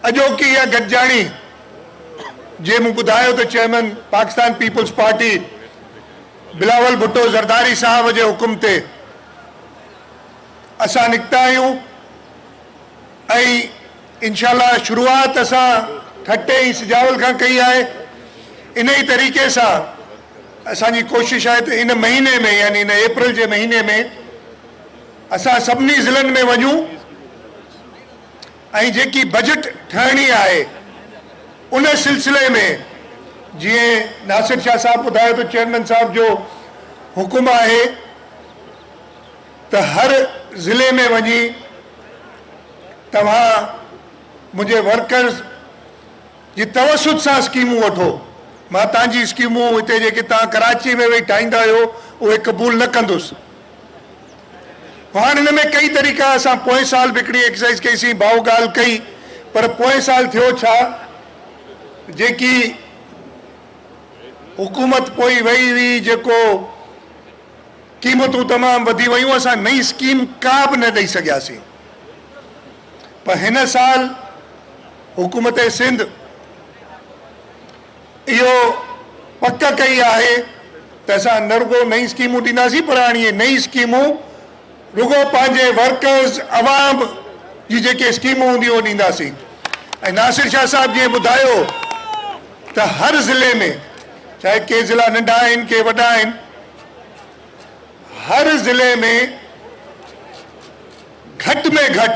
اڄوڪي اها گڏجاڻي جي مون ٻڌايو ته chairman Pakistan peoples party Bilawal Bhutto Zardari صاحب جي حڪم تي اسان نڪتا آهيون ۽ انشاء الله شروعات اسان ٺٽي ۽ سجاول کان ڪئي آهي ان ئي طريقي سان اسان جي ڪوشش آهي ته ان مهيني ۾ يعني ان اپريل جي مهيني ۾ اسان سڀني ضلعن ۾ وڃون ۽ جيڪي بجيٽ ٺهڻي آهي ان سلسلي ۾ جيئن ناصر شاهه صاحب ٻڌايو ته چيئرمين صاحب جو حڪم آهي ته هر ضلعي ۾ وڃي توهان منهنجي ورڪرز جي توسط سان اسڪيمون وٺو مان تهنجي اسڪيمون هتي جيڪي توهان ڪراچي ۾ ويهي ٺاهيندا آهيو اهي قبول نه ڪندس. هاڻ هن ۾ ڪئي طريقا اسان پوئين سال به هڪڙي ايڪسرسائز ڪئي سين ڀائو ڳالهه ڪئي پر پوئين سال ٿيو ڇا جيڪي حڪومت پوئي وئي هئي جيڪو قيمتون تمام وڌي ويون اسان نئي اسڪيم ڪا به نه ڏئي سگهياسين پر هن سال حڪومت سنڌ اهو پڪ ڪئي آهي ته اسان نه رڳو نئين اسڪيمون ڏينداسين پر هاڻي اهي نئين اسڪيمون رڳو پنهنجي ورڪرز عوام جي جيڪي اسڪيمون هونديون اهي ڏينداسين ۽ ناصر شاهه صاحب جيئن ٻڌايو ته هر ضلعي ۾ چاهي ڪي ضلع ننڍا آهن ڪي وڏا آهن هر ضلعي ۾ گهٽ ۾ گهٽ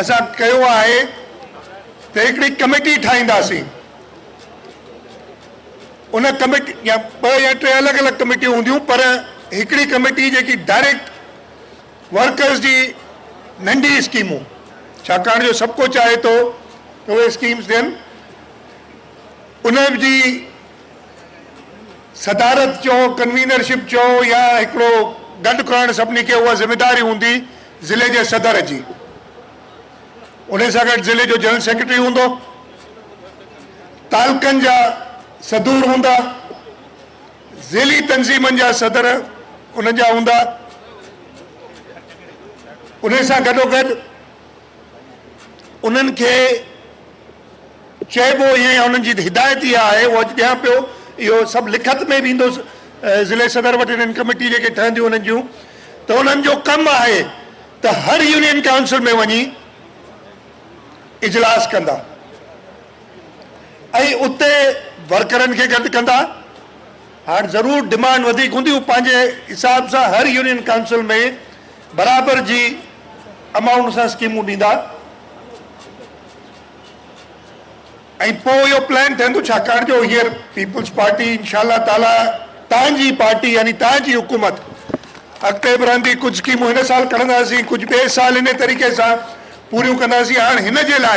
اسان ڪيو آهي ته هڪڙي ڪميٽي ٺاهينداسين ان ڪميٽي يا ٻه يا ٽي الڳ الڳ ڪميٽيون هونديون پر هڪڙي ڪميٽي جيڪي ڊائريڪٽ ورڪرز جي ننڍي اسڪيمون ڇاڪاڻ جو سڀ ڪو چاهي ٿو ته اهي اسڪيمز ڏين ان جي صدارت چئو ڪنوينرشپ چئو يا هڪڙو گڏ ڪرڻ سڀني کي اها ذميداري هوندي ضلعي جي صدر جي انهي سان گڏ ضلعي جو جنرل سيڪريٽري هوندو، تعلقن جا صدور هوندا، ضلعي تنظيمن جا صدر ان جا هوندا، انهي سان گڏوگڏ انهن کي چئبو ائين يا انهن جي هدايت اها آهي اهو اڄ ڏيان پيو اهو سڀ لکت ۾ به ايندو ضلعي صدر وٽ انهن ڪميٽي جيڪي ٺهنديون انهن جون ته انهن جو ڪم آهي ته هر يونين ڪائونسل ۾ وڃي اجلاس ڪندا ۽ اتي ورڪرن کي گڏ ڪندا هاڻ ضرور ڊمانڊ وڌيڪ هوندي هو پنهنجي حساب سان هر يونين ڪائونسل ۾ برابر جي امائونٽ سان اسڪيمون ڏيندا ۽ پوء اهو پلان ٺهندو ڇاڪاڻ جو هينئر پيپلز پارٽي انشاء الله تعاليٰ تان جي پارٽي يعني تان جي حڪومت اڳتي به رهندي ڪجهه اسڪيمون هن سال کڻنداسين ڪجهه ٻئي سال انهي طريقي سان پوريون ڪنداسين هاڻ هن جي لاء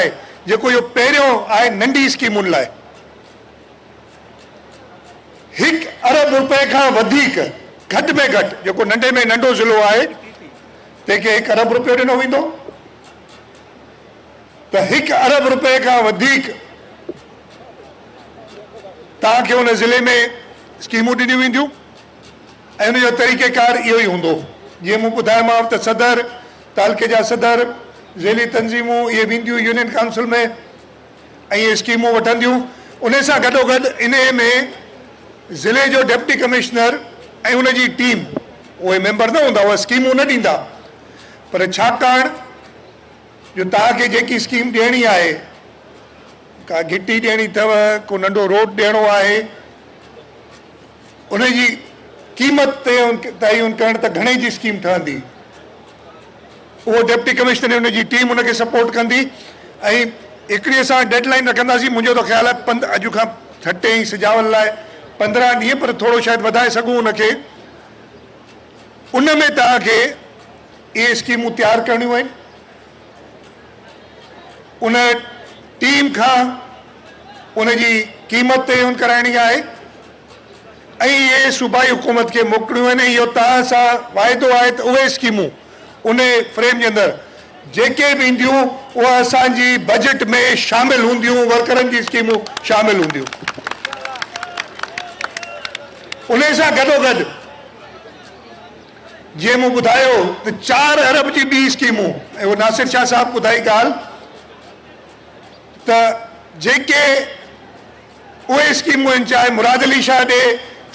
جيڪو اهو پهريون آهي ننڍي اسڪيمن لاء هڪ ارب رپئي کان وڌيڪ گهٽ ۾ گهٽ جيڪو ننڍي ۾ ننڍو ضلعو آهي تنهن کي هڪ ارب رپيو ڏنو ويندو ته هڪ ارب رپئي کان وڌيڪ توهان کي ان ضلعي ۾ اسڪيمون ڏنيون وينديون ۽ ان جو طريقه ڪار اهو ئي هوندو جيئن مون ٻڌايومانو ته صدر، تعلقي جا صدر، ذيلي تنظيمون اهي وينديون يونين ڪائونسل ۾ ۽ اهي اسڪيمون وٺنديون انهي سان گڏوگڏ انهي ۾ ضلعي جو ڊپٽي ڪمشنر ۽ ان جي ٽيم اهي ميمبر نه هوندا اهي اسڪيمون نه ڏيندا پر ڇاڪاڻ جو توهان کي جيڪي اسڪيم ڏيڻي آهي، ڪا گهٽي ڏيڻي اٿئو، ڪو ننڍو روڊ ڏيڻو آهي، ان جي قيمت تعين ڪرڻ ته گهڻي جي اسڪيم ٺهندي، اهو ڊپٽي ڪمشنر ۽ ان جي ٽيم ان کي سپورٽ ڪندي ۽ هڪڙي اسان ڊيڊ لائين رکنداسين، منهنجو ته خيال آهي پند اڄ کان ٺٽي ۽ سجاول لاء پندرهن ڏينهن پر ٿورو شايد وڌائي سگهون ان کي، ان ۾ توهان کي. اهي اسڪيمون تيار ڪرڻيون آهن، ان ٽيم کان ان جي قيمت تعين ڪرائڻي آهي ۽ اهي صوبائي حڪومت کي موڪلڻيون آهن ۽ اهو توهان سان واعدو آهي ته اهي اسڪيمون ان فريم جي اندر جيڪي به اينديون اهي اسان جي بجيٽ ۾ شامل هونديون، ورڪرن جي اسڪيمون شامل هونديون. ان سان گڏوگڏ جنهن مون ٻڌايو ته چار ارب جي ٻي اسڪيمون ۽ اهو ناصر شاهه صاحب ٻڌائي ڳالهه ته جيڪي اهي اسڪيمون آهن چاهي مراد علي شاهه ڏي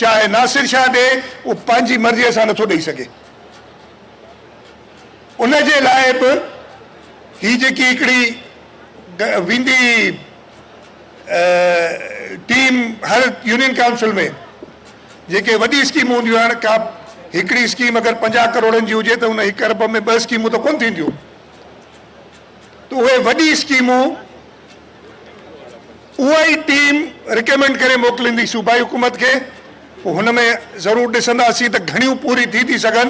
چاهي ناصر شاهه ڏي اهو پنهنجي مرضي سان نٿو ڏئي سگهي ان جي لاء به هي جيڪي هڪڙي ويندي ٽيم هر يونين ڪائونسل ۾ جيڪي وڏي اسڪيمون هونديون آهن ڪا به هڪڙي اسڪيم اگر پنجاهه ڪروڙن جي هجي ته ان هڪ ارب ۾ ٻه اسڪيمون ته ڪونه ٿينديون ته اهي وڏي اسڪيمون اها ئي ٽيم رڪمينڊ ڪري موڪليندي صوبائي حڪومت کي پوء هن ۾ ضرور ڏسنداسين ته گهڻيون پوري ٿي ٿي سگهن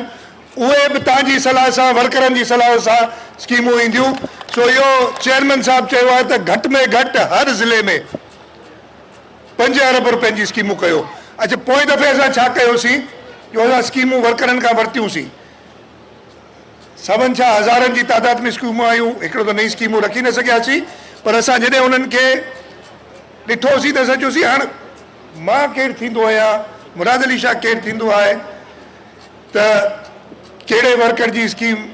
اهي به تان جي صلاح سان ورڪرن جي صلاح سان اسڪيمون اينديون سو اهو چيئرمين صاحب چيو آهي ته گهٽ ۾ گهٽ هر ضلعي ۾ پنج ارب رپين جي اسڪيمون ڪيو اچ پوئين دفعي اسان ڇا ڪيو سين جو اسان اسڪيمون ورڪرن کان ورتيون سين سون ڇا هزارن جي تعداد ۾ اسڪيمون آيون هڪڙو ته نئين اسڪيمون رکي نه سگهيا سين پر اسان جڏهن انهن کي ڏٺو سين ته اسان چيو سين هاڻ مان ڪير ٿيندو آهيان مراد علي شاهه ڪير ٿيندو آهي. ته ڪهڙي ورڪر جي اسڪيم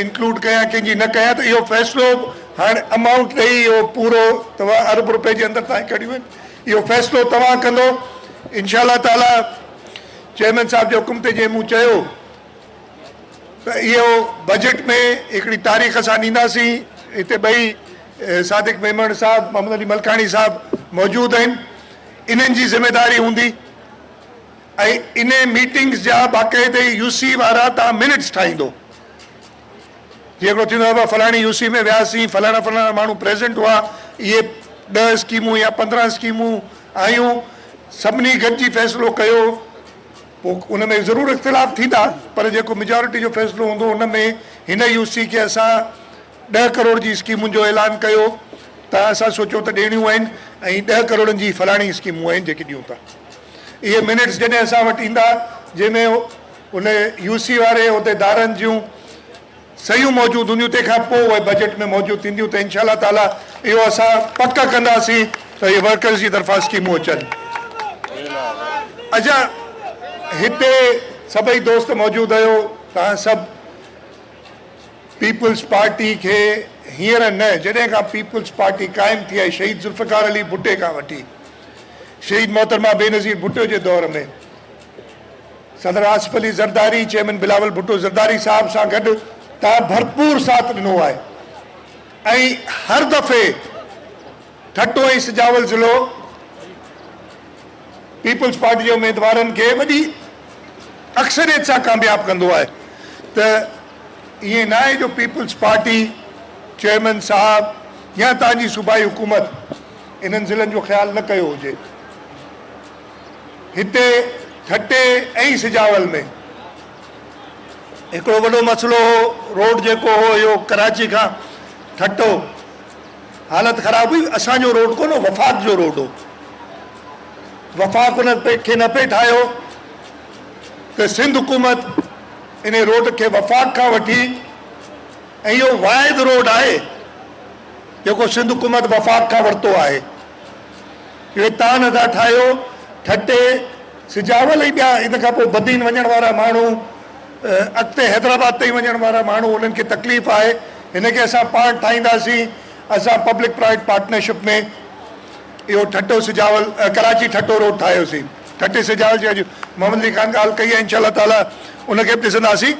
انڪلوڊ ڪيان ڪنهن جي نه ڪيان ته اهو فيصلو هاڻ امائونٽ ڏئي اهو پورو توهان ارب روپئي جي اندر تائين ڪڍيون آهن اهو فيصلو توهان ڪندو انشاء الله تعالي چيئرمين صاحب جي حڪم تي جيئن مون چيو ته اهو بجيٽ ۾ هڪڙي تاريخ اسان ڏينداسين هتي ٻئي صادق ميمڻ صاحب محمد علي ملڪاڻي صاحب موجود آهن انهن جي ذميداري هوندي ۽ انهي ميٽنگس جا باقاعدي يو سي وارا تان منٽس ٺاهيندو جي هڪڙو ٿيندو آهي فلاڻي يو سي ۾ وياسين فلاڻا فلاڻا ماڻهو پريزنٽ هئا اهي ڏهه اسڪيمون يا پندرهن اسڪيمون آيون سڀني گڏجي فيصلو ڪيو پوء ان ۾ ضرور اختلاف ٿيندا پر جيڪو ميجارٽي جو فيصلو هوندو ان ۾ هن يو سي کي اسان ڏهه ڪروڙ جي اسڪيمن جو اعلان ڪيو ته اسان سوچيو ته ڏيڻيون آهن ۽ ڏهه ڪروڙن جي فلاڻي اسڪيمون آهن جيڪي ڏيون ٿا اهي منٽس جڏهن اسان وٽ ايندا جنهن ۾ ان يو سي واري عهديدارن جون صحيحون موجود هونديون تنهن کان پوء اهي بجيٽ ۾ موجود ٿينديون ته انشاء الله تعاليٰ اهو اسان پڪ ڪنداسين ته اهي ورڪرز جي طرفان اسڪيمون اچن. اچا هتي سڀئي دوست موجود آهيو توهان سڀ پيپلز پارٽي کي هينئر نه جڏهن کان پيپلز پارٽي قائم ٿي آهي شهيد ذوالفقار علي ڀٽي کان وٺي شهيد محترمه بينظير ڀٽو جي دور ۾ صدر آصف علي زرداري چيئرمين بلاول ڀٽو زرداري صاحب سان گڏ تان ڀرپور ساٿ ڏنو آهي ۽ هر دفعي ٺٽو ۽ سجاول ضلعو پيپلز پارٽي جي اميدوارن کي وڏي اڪثريت سان ڪامياب ڪندو آهي ته ائين نه آهي جو پيپلز پارٽي چيئرمين صاحب يا تان جي صوبائي حڪومت انهن ضلعن جو خيال نه ڪيو هجي. هتي ٺٽي ۽ سجاول ۾ هڪڙو وڏو مسئلو هو، روڊ جيڪو هو اهو ڪراچي کان ٺٽو حالت خراب هئي، اسان جو روڊ ڪونه هو وفاق جو روڊ هو، وفاق ان کي نه پئي ٺاهيو ته سنڌ حڪومت انهي روڊ کي وفاق کان وٺي، اهو واحد روڊ آهي جيڪو سنڌ حڪومت وفاق کان ورتو آهي. اهي تان ادا ٺاهيو، ٺٽي، سجاول ۽ ٻيا ان کان پوء بدين وڃڻ وارا ماڻهو اڳتي حيدرآباد تائين وڃڻ وارا ماڻهو انهن کي تڪليف آهي هن کي اسان پاڻ ٺاهينداسين اسان پبلڪ پرائيويٽ پارٽنرشپ ۾ اهو ٺٽو سجاول ڪراچي ٺٽو روڊ ٺاهيوسين ٺٽي سجاول جي اڄ محمد علي خان ڳالهه ڪئي آهي انشاء الله تعاليٰ ان کي به ڏسنداسين.